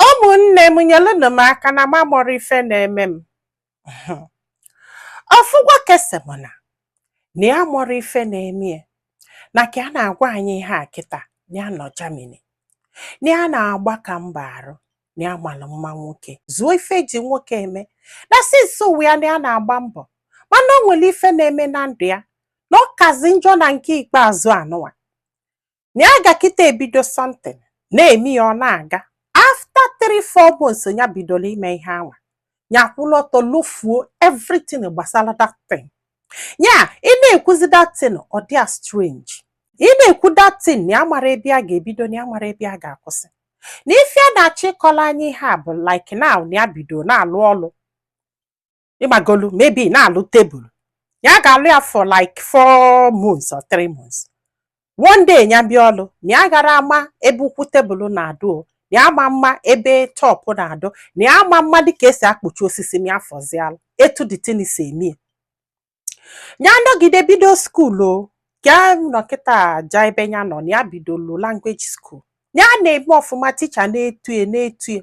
ụmụnne m nyelụnụ m aka na m amarọ ife na-eme m ofu nwoke sị m na na ya amarọ ife na-eme ya na ka a na-agwa anyị ihe a kịta na ya nọ Germany na ya na-agbaka mbọ arụ na ya malụ mma nwoke zuo ife e ji nwoke eme na since ụwa ya na ya na-agba mbọ mana o nwere ife na-eme na ndụ ya na ọ kazi njọ na nke ikpeazụ anụwa na ya ga kịta ebido something na-eme ya ọ na-aga after three four months ya bidoro ime ihe anwa ya kwụrụ ọtọ lofuo everything gbasara that thing ya ị na-ekwuzi that thing ọ dị ya strange ị na-ekwu that thing na ya amarọ ebe ya ga-ebido na ya amarọ ebe ya ga-akwụsị na ife ya na-achọ ịkọlụ anyị ihe a bụ like now na ya bido na-alụ ọlụ ịmagolu maybe na-alụ tebụl ya ga-alụ ya for like four months or three months one day ya bịa ọlụ na ya agarọ ama ebe ụkwụ tebụl na-adụ o na ya ama ama ebe top na-adụ na ya ama ama dịka esi akpụcha osisi ya fụzialụ etu the thing si eme ya ya nọgide bido skuul ọ ka nọ kịta ja ebe ya nọ na ya bidolu language school ya na-eme ọfụma ticha na-eto ya na-eto ya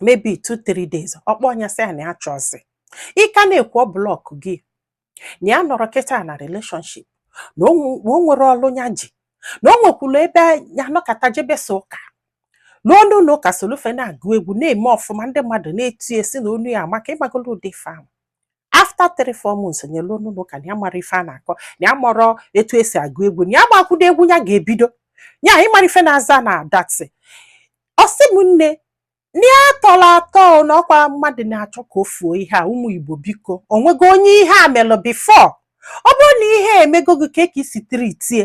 maybe two three days ọ kpọọ onye a sị ya na ya achọzi ị ka na-ekwu ọ block gị na ya anọrọ kịta na relationship na o nwe- na o nwerọ ọlụ ya ji na o nwekwurọ ebe ya nọkata jebezia ụka n'ụ- n'ụnọ ụka solu fa na-agụ egwu na-eme ọfụma ndị mmadụ na-eto ya sị na onu ya amaka ịmagolo ụdị ife anwa after three four months ya eluo n'ụnọ ụka na ya amarọ ife a na-akọ na ya amarọ etu esi agụ egwu na ya gbakwudo egwu ya ga-ebido ya amarọ ife na-aza na that thing ọ sị m nne na ya tọrọ atọ na ọkwa mmadụ na-achọ ka o fuo ihe a ụmụ Igbo biko o nwego onye ihe a melụ before ọ bụrụ na ihe a emego gị kee ka i si treat ya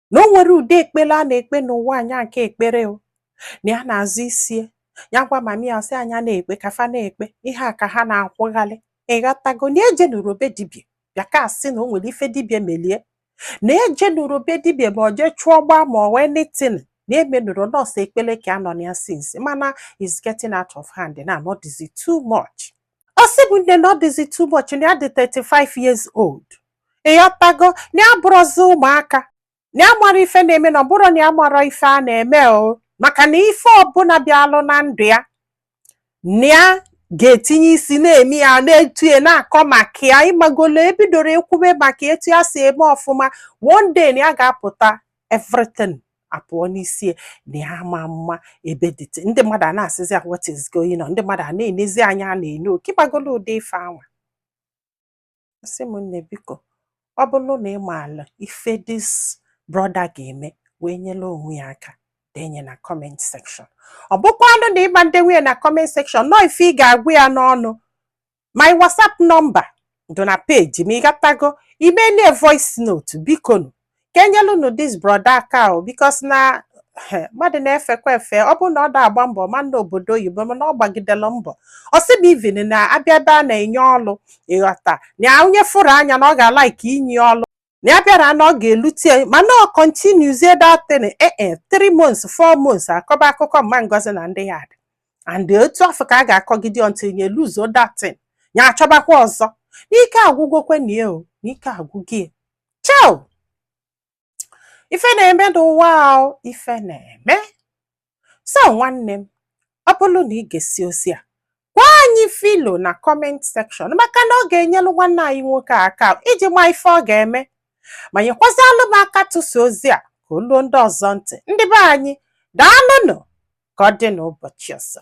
na o nwerọ ụdị ekpele a na-ekpe n'ụwa a nya aka ekperọ na ya na-azụ isie ya gwa mami ya sị ya nya na-ekpe ka fa na-ekpe ihe a ka ha na-akwụghalị ịghọtago na ya ejenurọ be dibia bịa ka a sị na o nwere ife dibia melụ ya na ya ejenurọ be dibia ma ọ jee chụọ gbaa ma ọ bụ anything na ya emenurọ na ọ sọ ekpele ka ya nọ na ya since mana is getting out of hand na ọ dịzi too much ọ sị m nne na ọ dịzi too much na ya dị 35 years old ịghọtago na ya abụrọzi ụmụaka na ya amarọ ife na-eme na ọ bụrọ na ya amarọ ife ya na-eme o maka na ife ọbụla bịalụ na ndụ ya na ya ga-etinye isi na-eme ya na-eto ya na-akọ maka ya ịmagolo ebidoro ekwube maka etu ya si eme ọfụma one day na ya ga-apụta everything apụọ n'isi ya na ya ama ama ebe the thing ndị mmadụ a na-asịzi ya what is going on ndị mmadụ a na-enezi anya a na-ene oke ịmagolo ụdị ife anwa sị m nne biko ọ bụrụ na ị maala ife dis brọda ga-eme wee nyelu onwe ya aka denye na kọment sekshọn ọ bụkwanụ na ị ma ndenwu ya na kọment sekshọn na ọ ife ị ga-agwa ya n'ọnụ my whatsapp nọmba dị na peji ma ị gatago i meeli ya voice note bikonu ka e nyelunu dis broda aka o bikos na mmadụ na-efekwa efe ọ bụrọ na ọ da-agba mbọ ma na obodo oyibo mana ọ gbagidela mbọ ọ sị na ivin na abịa ebe a na-enye ọlụ ị ghọta na onye fụrụ anya na ọ ga-alaịkị inye ọlụ na ya bịara na ọ ga-elute mana ọ kontinuzie datin ee 3 months 4 months akọba akụkọ mama ngozi na ndị yard and otu afọ ka a ga-akọgide ọntịl nya luzuo datin ya achọbakwa ọzọ n'ike agwụgwokwe na o n'ike agwụgie chai o ife na-eme n'ụwa o ife na-eme so nwanne m ọ bụrụ na ị gesịa ozi a gwa anyị ife i lo na kọment sekshọn maka na ọ ga-enyelu nwanne anyị nwoke aka iji maa ife ọ ga-eme ma nyekwazịalụ m aka tụsa ozi a ka o luo ndị ọzọ ntị ndị be anyị daalụnụ ka ọ dị n'ụbọchị ọzọ